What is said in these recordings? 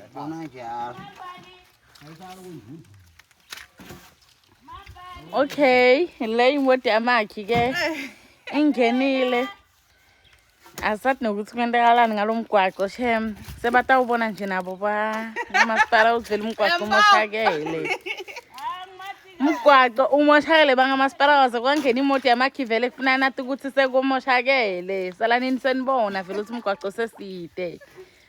Yabona njalo. Okay, le imoto yamakhi ke ingenile. Asathi nokuthi kwentekalani ngalomgwaqo shem. Sebatawubona nje nabo ba umasipala uzivela umgwaqo umoshakele. Umgwaqo umoshakele bangamasipala waze kwangena imoto yamakhi vele kufuna nathi ukuthi sekumoshakele. Salanini senibona vele ukuthi umgwaqo seside.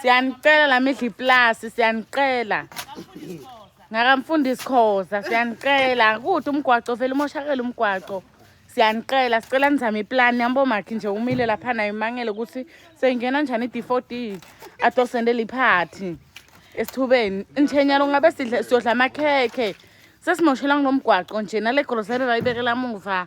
siyanicela la midla iplasi siyanicela ngakamfundisi khoza siyanicela kude umgwaco vele umoshakele umgwaco siyanicela sicela nizame iplani yambo makhi nje umile lapha nayo imangele ukuthi seyingena njani i-d four d adosendele iphathi esithubeni njenyalo ngabe sidle siyodla amakhekhe sesimoshelanga nomgwaqo nje nale groseri rayibekela muva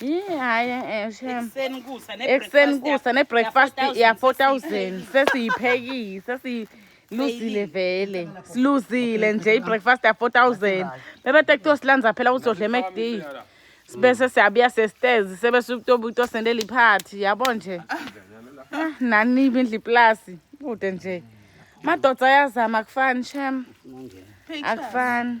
Yini hayi eh shem. Ekuseni kusa ne Ekuseni kusa ne breakfast ya 4000 sesiyiphekile sesi luzile vele siluzile nje ibreakfast ya 4000 bebethe kuthiwa silanza phela uzodla eMcD sibese siyabuya sesitezi sebese utoba uto sendela iphathi yabo nje ah, nanibi indli plus kude nje madoda ayazama akufani shem akufani